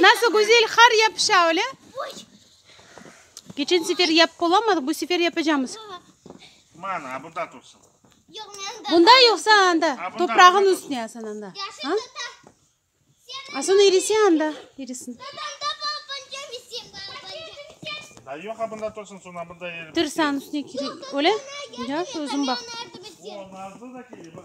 Nasıl güzel qar yapışa, öyle? Keçen sefer yapıp olamadıq, bu sefer yapacamız. Mana, a bunda tursun. Bunda yoqsa anda, toprağın üstüne asan anda. Asan erisi anda, erisin. Da yoq, a bunda tursun, sonra bunda erip. Tırsan üstüne kiri, öyle? Ya, sözüm bak. O, nazlı da kiri, bak.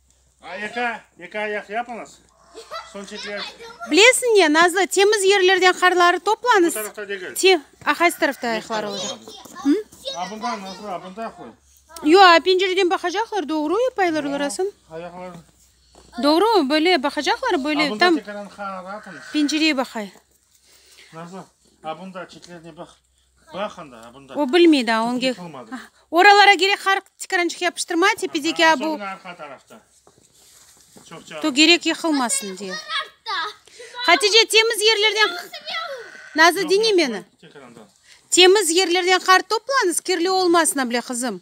Bilesiñ ne, Nazlı, temiz yerlerden qarları toplanız, te, a qaysı tarafta ayaqları olacaq? Yo, a pencereden baqacaqlar, doğru yapaylar olarasın? Doğru, böyle baqacaqlar, böyle tam pencereye baqay. O bilmey daa, on ge. Oralara gerek har tikrançıq yapıştırma, tepedeki a bu. To gerek yıqılmasın diye. Hatice, temiz yerlerden. Nazlı, diñe meni. Temiz yerlerden qar toplanız, kirli olmasın able, qızım.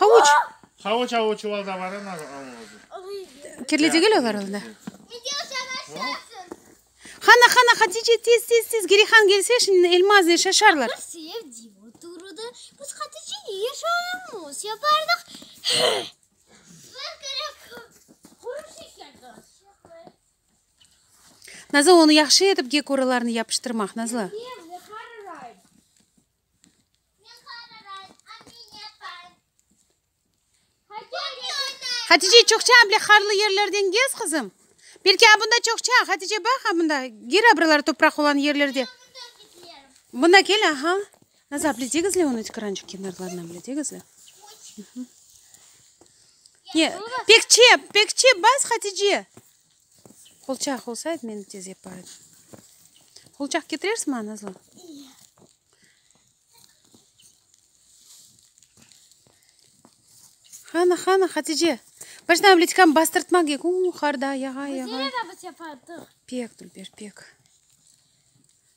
Havuç. Havuç avı çuvalda bar ı nazı avı ozi. Kirli degil olar onda. Hana hana Hatice tez tez tez Gerihan gelse şimdi elma azne şaşarlar. Biz sevdiğim oturdı. Biz Hatice ne yaşayımız yapardık. Nazlı onu yahşı etip gekoralarını yapıştırmaq Nazlı. Hatice, çoqça bile qarlı yerlerden gez, qızım. Belki a bunda çoqça, Hatice, baq a bunda. Gir a buralar topraq olan yerlerde. Buna kel, aha. Nazlı abla, degizle onı tıqırançıq kenarlarına bile, degizle. Pek çep, pek çep bas, Hatice. Qolçaq olsaydı, men tez yapar edim. Qolçaq ketirersizmi maña, Nazlı? Qani, qani, Hatice. Baştan bliçkanı bastırtma kek. Uuu, qarda, yağa, yağa. Pek, Dülber, pek.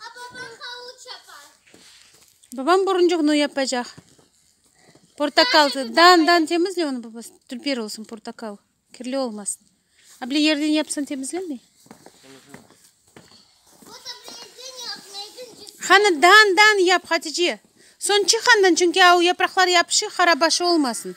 A babam havuç yapar. Babam buruncuq nu yapacaq. Portakal. Dan dan temizle onu babası. Tülper olsun portakal. Kirli olmasın. A bile yerden yapsan temizlenmey. Hanı dan dan yap Hatice. Soñ çıqandan çünki a o yapraqlar yapışıq harabaşı olmasın.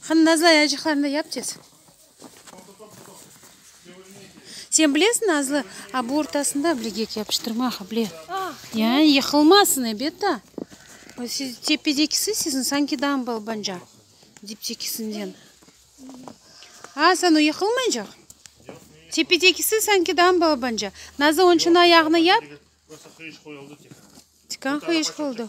Hanı Nazlı ayacıqlarını da yap tez. Sen bilesiñ Nazlı, a bu ortasında bilegek yapıştırma ha bile. Yani yıqılmasın ebet da. Siz tepedekisi siziñ sanki dambl bence. Diptekisinden. A sen o yıqılmaycaq? Tepedekisi sanki dambl bence. Nazlı onıñ içün ayağını yap. Tikan qıyışıq oldı.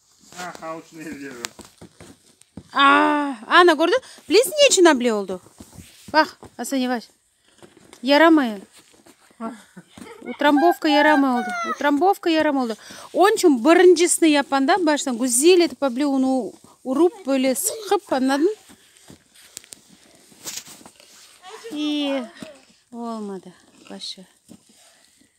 Ana, kördiñ? Bilesiñ, ne içün able oldı? Baq, Asan yevaş. Yaramay. Utrambovka yaramay oldı. Utrambovka yaramay oldı. Onıñ içün birincisini yapanda, baştan güzel etip able unı urıp, böyle sıqıp, añladıñ? İyi, olmadı. Boş ver.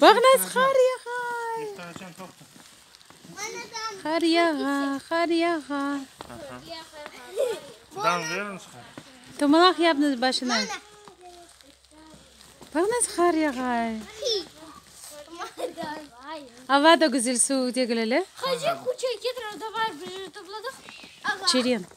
Bağnaz, qar yağa! Qar yağa, qar yağa! Tomalaq yapnız başına. Bağnaz, qar yağa! Ava da güzel, suv degil ele. Çeren.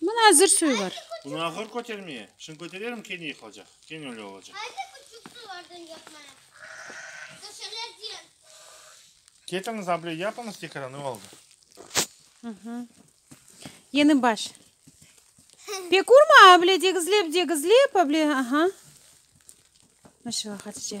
Mına azır suy bar. Bunı ağır kötermeye. Şimdi köterelim kene yıqılacaq. Kene öyle olacaq. Ketiñiz able yapıñız tekrar ne oldu? Yeni baş. Pek urma able degizlep degizlep able. Aha. Maşallah Hatice.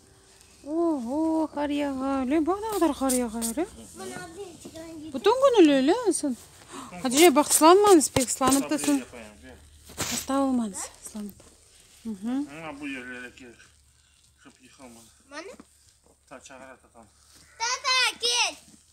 Oho, qar yağa, le, bax ne qadar qar yağa, le. Bütün gün öyle, le, sen. Hatice, bax, slanmanız pek, slanıp da sen. Hasta olmanız, slanıp. Ama bu yerlere gel. Kıp yıkılma. Bana? Ta çağıra tatam. Tata, gel.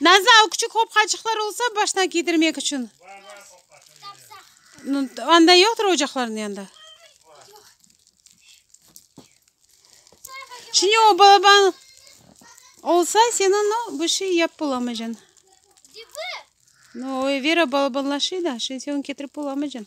Nazlı o küçük hopqacıqlar olsa başına giydirmek içün. Anda yoqtur ocaqlarnıñ yanında. Şimdi o balaban olsa seni no bir şey yap bulamacan. No Vera balabanlaşıy da, şimdi sen ketirip bulamacan.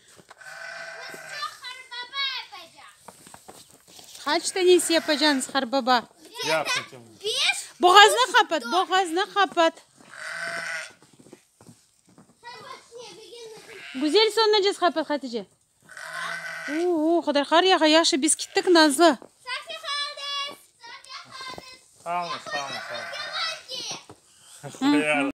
Kaç tanesi yapacağınız qarbaba? Boğazını qapat, boğazını qapat. Güzel sonuna cez qapat Hatice. Oo, Xuday qar yağa, yaxşı biz kittik Nazlı. Qalın, qalın, qalın.